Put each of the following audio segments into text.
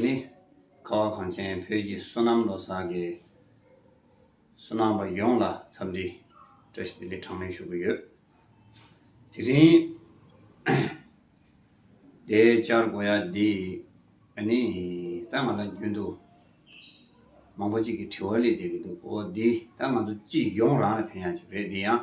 ནི། ཁ་བ་གངས་ཅན་བོད་ཀྱི་བསོད་ནམས་ལོ་གསར་གྱི་བསོད་ནམས་པ་ཡོངས་ལ་འཚམས་འདྲི་བཀྲ་ཤིས་བདེ་ལེགས་གྲངས་མེད་ཞུ་གི་ཡོད། དེ་རིང་འདའི་བཅར་དགོས་ཡ་འདི་ནི་ད་ང་ལ་རྒྱུན་དུ་མང་པོ་ཅིག་གི་དྲི་བ་ལས་འདས་ཀྱི་འདུག་གོ་འདི་ད་ང་ཚོ་སྤྱི་ཡོངས་རང་ལ་ཕན་ཡ་ཅིག་རེད་འདི་ཡང།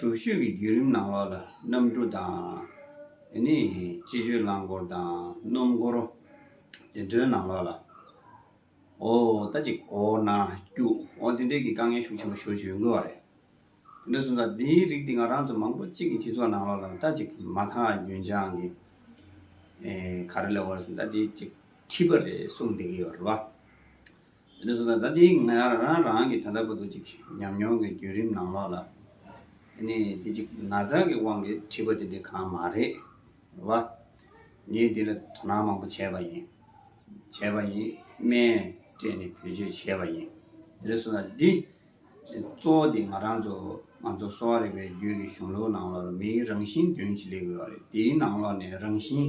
དྲུག་ཤོས་ཀྱི་བརྒྱུད་རིམ་ནང་ལོགས་ལ་གནམ་གྲུ་དང། སྤྱི་སྤྱོད་རླངས་འཁོར་དང་སྣུམ་འཁོར། འཛིན་གྲྭའི་ནང་ལོགས་ལ། འོ་ད་ཅི་གོ་ན་སྐྱུག་འོ་དེ་འདྲའི་གི་དཀའ་ངལ་ཤུགས་ཆེན་པོ་ཞོ་བྱུས་འགོ་བ་རེད། དེ་འདྲ་སོང་ཙང་དེའི་རིགས་དེ་ང་རང་ཚོ་མང་པོ་གཅིག་གི་སྤྱི་ཚོགས་ནང་ལོགས་ལ་ད་ཅི་མ་མཐའ་རྒྱུན་ཆང་གི་ག་རེ་ལས་བར་སོང་ད་དེ་ཅི་ཁྲིད་པ་རེད་གསུངས་བསྡད་ཀྱི་ཡོད་རེད་བ། དེ་ནས་བཟུང་ད་ལྟའི་ང་རང་རང་གི་ད་ལྟ་བར་དུ་ཅིག་ཉམས་མྱོང་གི་བརྒྱུད་རིམ་ནང་ལོགས་ལ་ནི་དེ་ཅིག་ན་ཚ་གི་དབང་གིས་འཁྲིས་པ་དེ་འདི་གང་མ་རེད་བ། ངས་འདི་ལ་དོ་སྣང་མང་པོ་བྱས་པ་ཡིན། བྱས་པ་ཡིན། སྨན་སྤྲད་ནས་བེད་སྤྱོད་བྱས་པ་ཡིན། དེ་ནས་བཟུང་ད་འདི་གཙོ་བོ་དེ་ང་རང་ཚོ་ང་ཚོ་གསོ་བ་རིག་པའི་རྒྱུད་ཀྱི་གཞུང་ལུགས་ནང་ལོགས་ལ་མིའི་རང་བཞིན་བདུན་ཅིག་སླེབས་ཡོད་པ་རེད་དེའི་ནང་ལོགས་ནས་རང་བཞིན།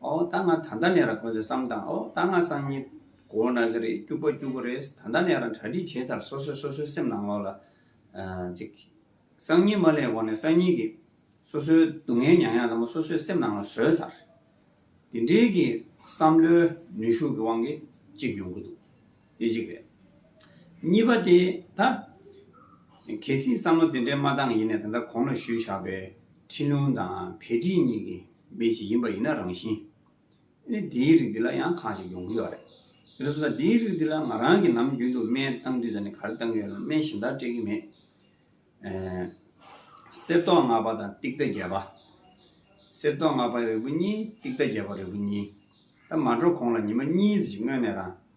ཨོ་ད་ང་ད་ལྟ་ནས་རང་ཁོ་ཚོའི་བསམ་དང་ཨོ་ད་ང་སང་ཉིན་གོ་ན་གི་རེད་སྐྱུག་པ་སྐྱུག་གི་རེད་ད་ལྟ་ནས་རང་གྲ་སྒྲིག་བྱས་ཚར་སོ་སོས་སོ་སོའི་སེམས་ནང་ལོག་ལ་ཅིག་སང་ཉིན་མ་ལས་འོག་ནས་སང་ཉིན་གི་སོ་སོའི་སྡུག་བསྔལ་མྱངས་ཡག་ལ་མོ་སོ་སོའི་སེམས་ནང་ལ་བཟོས་ཚར། དེ་འདྲའི་གི་བསམ་བློའི་ནུས་ཤུགས་ཀྱི་དབང་གིས་ཅིག་ཡོང་གི་འདུག་དེ་གཅིག་རེད། གཉིས་པ་དེ་ད། གལ་སྲིད་བསམ་བློ་དེ་འདྲའི་མ་འདང་ཡིན་ན་ད་ལྟ་གོང་ན་ཞུས་ཆགས་པའི་ཁྲིན་ལུང་དང་བྷེ་ཀྲིན་གཉིས་ཀྱི་མི་ཞིག་ཡིན་པ་ཡིན་ན་རང་བཞིན་ནི་དེའི་རིགས་འདི་ལ་ཡང་ཁག་ཅིག་ཡོང་གི་ཡོད་རེད། དེ་ལྟར་ཟོས་ན་དེའི་རིགས་འདི་ལ་ང་རང་གིས་ནམ་རྒྱུན་དུ་སྨན་བཏང་དུས་ད་ནི་ག་རེ་བཏང་གི་ཡོད་ལ་སྨན་གཞན་དག་སྤྲད་ཀྱི་མེད། གསེར་ཏོག་ལྔ་པ་དང་ཏིག་ཏཱ་བརྒྱད་པ། གསེར་ཏོག་ལྔ་པ་རིལ་བུ་གཉིས་ཏིག་ཏཱ་བརྒྱད་པ་རིལ་བུ་གཉིས། ད་མ་འགྲོ་གོང་ལ་ཉི་མ་གཉིས་ཟིག་སྔོན་ནས་རང་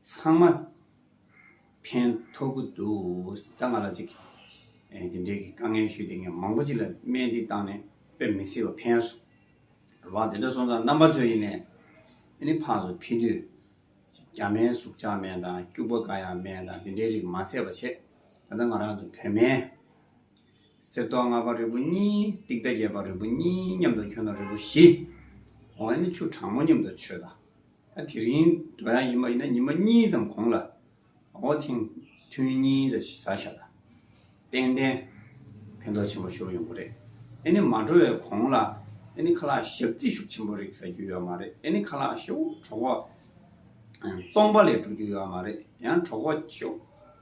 ཚང་མ་ཕན་ཐོག་གི་འདུག་ད་ང་ལ་ཅིག་དེ་འབྲེལ་གྱི་དཀའ་ངལ་ཞུས་དེ་ངས་མང་པོ་ཅིག་ལ་སྨན་འདི་བཏང་ནས་དཔེ་མི་སྲིད་པ་ཕན་སོང། བ་དེ་འདྲ་སོང་ཙང་རྣམ་པ་ཚོས་ཡིན་ནས་དེ་ནི་ཕག་སོ་ཕི་དུས་རྒྱ་སྨན་གཟུགས་ཆགས་སྨན་དང་སྐྱུག་པ་དཀའ་ཡང་སྨན་དང་དེ་འདྲའི་རིགས་མ་ཟད་པ་བྱེད། ད་ལྟ་ང་རང་ཚོ་བོད་སྨན། གསེར་མདོག་ལྔ་པ་རིལ་བུ་གཉིས། ཏིག་ཏྭ་བརྒྱད་པ་རིལ་བུ་གཉིས་མཉམ་དུ་གྱོན་ན་རིལ་བུ་བཞི། འོ་ན་ཆུ་གྲང་མོ་མཉམ་དུ་མཆོད་ད། ད་དེ་རིང་འགྲོ་ཡང་ཡིན་པ་ཡིན་ན་ཉི་མ་གཉིས་ཙམ་གོང་ལ་འོ་ཐེངས་ཐུན་གཉིས་བཟའ་བྱ་ད། ཏན་ཏན་ཕན་ཐོགས་ཆེན་པོ་ཤོར་ཡོང་གི་རེད། ཨེ་ནི་མ་འགྲོ་བའི་གོང་ལ་ཨེ་ནི་ཁ་ལག་བཞག་རྩིས་ཤུགས་ཆེན་པོ་རིགས་ཟ་རྒྱུ་ཡོད་མ་རེད་ཨེ་ནི་ཁ་ལག་ཤོག་གྲོགས་པོ་སྟོང་པ་ལས་འགྲོ་རྒྱུ་ཡོད་མ་རེད་ཡང་གྲོགས་པོ་ཤོག།